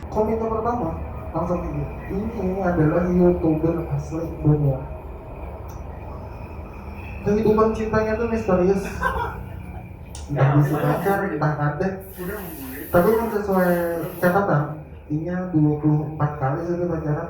Komite pertama langsung gini, ini adalah youtuber asli dunia. Kehidupan cintanya tuh misterius. Entah bisa pacar, entah kada. Tapi mun sesuai catatan, inya dua puluh empat kali sudah pacaran.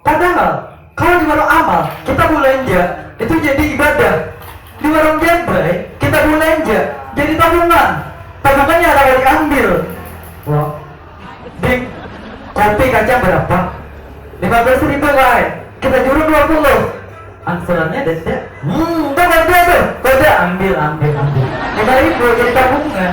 Padahal kalau di warung Amal kita bulanja itu jadi ibadah. Di warung Jabrai kita bulanja jadi tabungan. Tabungannya ada kawa diambil. Wah. Ding, kopi kacang barapa? Lima belas ribu ai. Kita juruk dua puluh. Angsurannya dada. Humm, tuh koda tuh, koda. Ambil, ambil, ambil. Lima ribu jadi tabungan.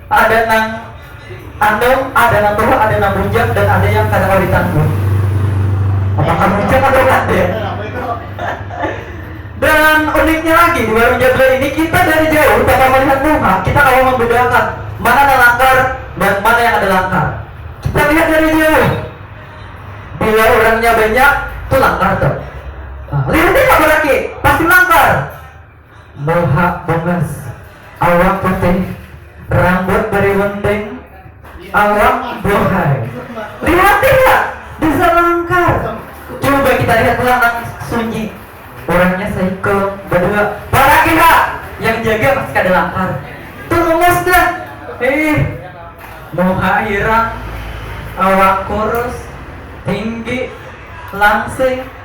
Ada nang andam, ada nang tua, ada nang bujang, dan ada yang kada kawa ditanggul. Apakah bujang atau kada? Dan uniknya lagi di warung Jabla ini kita dari jauh tanpa melihat muha kita kawa membedakan mana nang langkar dan mana yang kada langkar. Kita lihat dari jauh. Bila orangnya banyak, tu langkar tu. Nah, lihat aja baraki, pasti langkar. Muha bungas, awak putih, rambut bariwunting, awak buhai. Lihat tidak, bisa langkar. Coba kita lihat lanang sunyi. Orangnya sahiko, badua. Paragi ha, yang jaga masih kada langkar. Tulungus dah. Hih. Muha hirang, awak kurus, tinggi, langsing.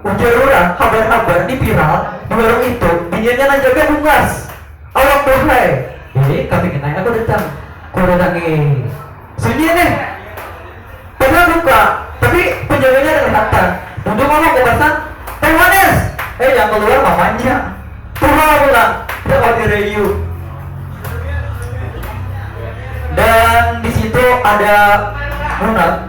Ujar urang, habar-habar ni viral di warung itu, biniannya nang jaga bungas. Awak buhai. Jadi, kapingin ai aku datang. Ku datangi. Sunyi nih. Padahal buka, tapi penjaganya ada lihatan. Duduk aku ke basang, Teh manis! Eh, yang keluar mamanya. Tuha pulang. Dawa dirayu. Dan di situ ada Munat.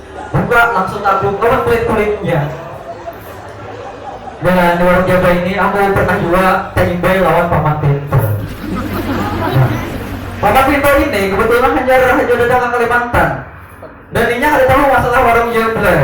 buka langsung tabung lawan kulit kulitnya dan orang Jawa ini aku pernah juga terimbai lawan paman Tento nah, paman Tento ini kebetulan hanya hanya datang ke Kalimantan dan inya ada tahu masalah warung Jemblay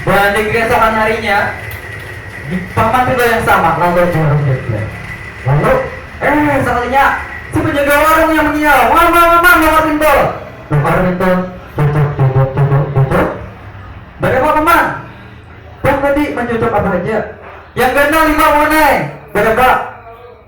Balandik keesokan harinya, di paman pintu yang sama, lalu jua runding jua. Lalu, eh sakalinya, si penjaga warung yang mengiau, Mama, mama, bongkar pintu! Bongkar pintu, cucuk, cucuk, cucuk, cucuk. Badapa paman? Bah tadi mancucuk apa haja? Yang ganal lima buhanai. Badapa?